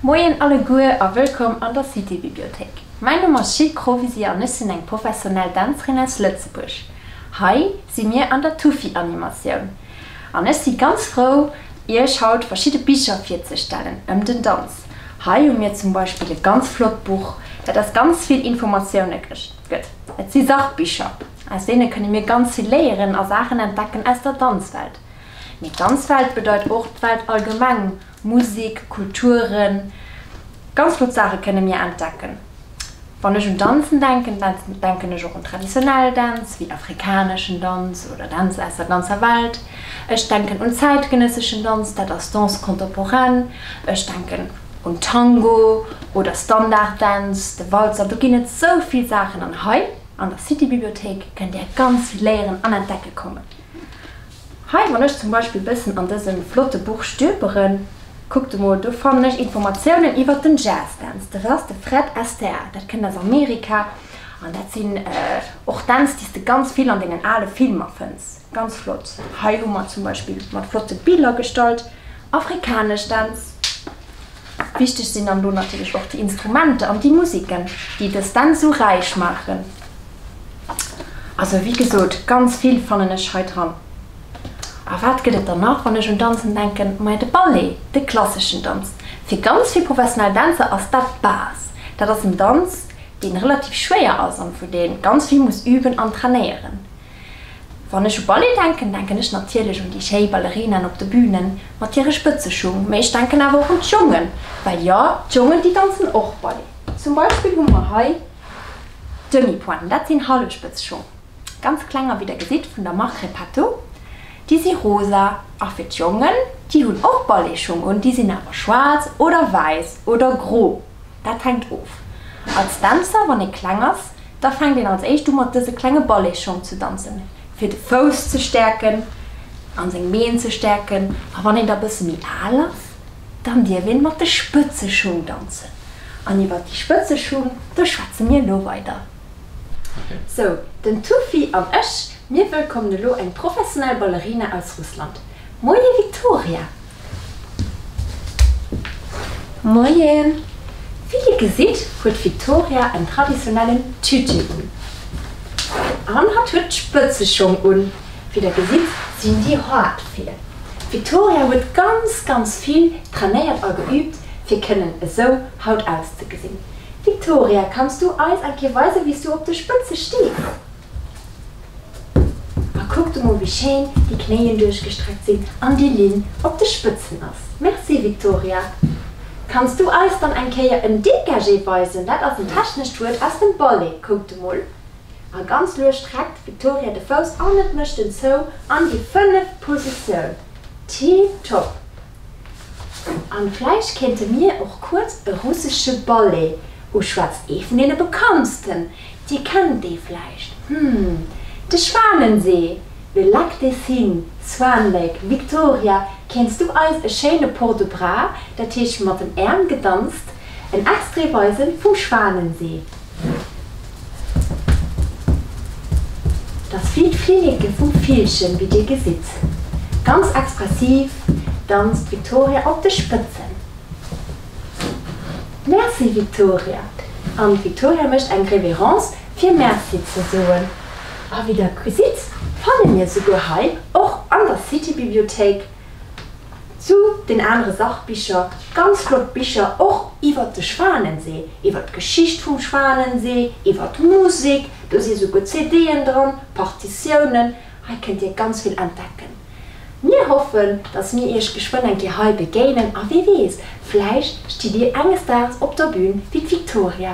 Moien alleguer a wëllkomm an der Citybibliothéik. Mäin Numm ass Jil Krovesi an ech sinn eng professionell Dänzerin aus Lëtzebuerg. Hei si mir an der Tufi Animatioun an ech si ganz frou iech haut verschidde Bicher virzestellen ëm den Danz. Hei hu mir zum Beispill e ganz flott Buch, dat aus ganz vill Informatioune gëtt. Et si Sachbicher, aus deene kënne mir ganz vill léieren a Saachen entdecken aus der Danzwelt. Mee d'ganz Welt bedeit och d'Welt allgemeng, Musik, Kulturen, ganz flott Saache kënne mir entdecken. Wann ech un Danzen denken, denken ech och un traditionell Dänz, wéi afrikaneschen Danz oder Dänz aus der ganzer Welt. Ech denken un zäitgenësseschen Danz, dat ass Danse contemporaine. Ech denken un Tango oder Standarddänz, de Walzer, do ginn et sou vill Saachen. An hei an der City-Bibliothéik kënnt Dir ganz vill léieren an entdecke kommen. Hei, wann ech zum Beispill e bëssen an dësem flotte Buch stülperen, kuckt emol, do fannen ech Informatiounen iwwert den Jazz Dance. Dat ass de Fred Astaire, dat kënnt aus Amerika an dat sinn och Dänz, déi s de ganz vill an dengen ale Filmer fënns. Ganz flott. Hei hu mer zum Beispill mat flotte Biller gestallt afrikanesch Dänz. Wichteg sinn dann elo natierlech och déi Instrumenter an déi Musiken, déi dës Dänz esou räich maachen. Also wéi gesot, ganz vill fannen ech hei dran. A wat gëtt et dann nach, wann ech un Danzen denken? Ma jo, de Ballet, de klasseschen Danz. Fir ganz vill professionell Dänzer ass dat d'Base. Dat ass en Danz, dee relativ schwéier ass an vun dee ganz vill muss üben an trainéieren. Wann ech u Ballet denken, denken ech natierlech un déi schéi Ballerinaen op de Bünen mat hire Spëtzeschung, mee ech denken awer och un d'Jongen, well jo, d'Jongen, déi danzen och Ballet. Zum Beispill hu mer hei Demi-pointen, dat sinn Hallespëtzschung, ganz kleng a wéi der gesitt vun der Marque Repetto, déi si rosa. A fir d'Jongen, déi hunn och Balletschung un, déi sinn awer schwaarz oder wäiss oder gro. Dat hänkt of. Als Dänzer, wann ee kleng ass, da fänkt een als éischt u mat dëse klenge Balletschong ze danzen, fir de Fouss ze stäerken a seng Been ze stäerken. A wann een da bësse méi al ass, dann dierf een mat de Spëtzeschung danzen. An iwwer déi Spëtzeschung, do schwätze mir elo weider. Sou, den Tufi an ech, mir wëllkommen elo eng professionell Ballerina aus Russland. Moie Victoria! Moien! Wéi dir gesitt, huet d'Victoria en traditionellen Tütü un. An hatt huet d'Spëtzeschong un. Wéi der gesitt, sinn déi haart vir. D'Victoria huet ganz, ganz vill trainéiert a geüübt, fir kënnen esou haut auszegesinn. Victoria, kanns du eis eng Kéier weisen, wéi s du op de Spëtze stees? A kuckt emol wéi schéin déi Knéien duerchgestreckt sinn an déi Linn op de Spëtzen ass. Merci Victoria. Kanns du eis dann eng Kéier en Dégagé weisen? Dat ass en technescht Wuert aus dem Ballet. Kuckt emol. A ganz lues streckt d'Victoria de Fouss an et mécht en zou an déi fënneft Positioun. Tiptop. An vläicht kéinte mir och kuerz e russesche Ballet uschwätzen, ee vun deene bekanntsten. Déi kennt ee vläicht, hm, de Schwanensee, le lac des Cygnes, Swan Lake, Victoria, kéints du eis e schéine Port de bras, dat heescht mat den Äerm gedanzt, en Extrait weise vum Schwanensee? Dass vill d'Flinneke vum Villchen, wéi dir gesitt. Ganz expressiv danzt d'Victoria op de Spëtzen. Merci Victoria! An d'Victoria mécht eng Révérence fir Merci ze soen. A wéi der gesitt fanne mir souguer hei och an der City-Bibliothéik zu den anere Sachbicher ganz flott Bicher och iwwert de Schwanensee, iwwert d'Geschicht vum Schwanensee, iwwert d'Musek, do si souguer CD'en dran, Partitiounen. Hei kënnt Dir ganz vill entdecken. Mir hoffen, dass mir iech geschwënn eng Kéier hei begéinen a wie weess, vläicht stitt dir enges Daags op der Bühn wéi d'Victoria.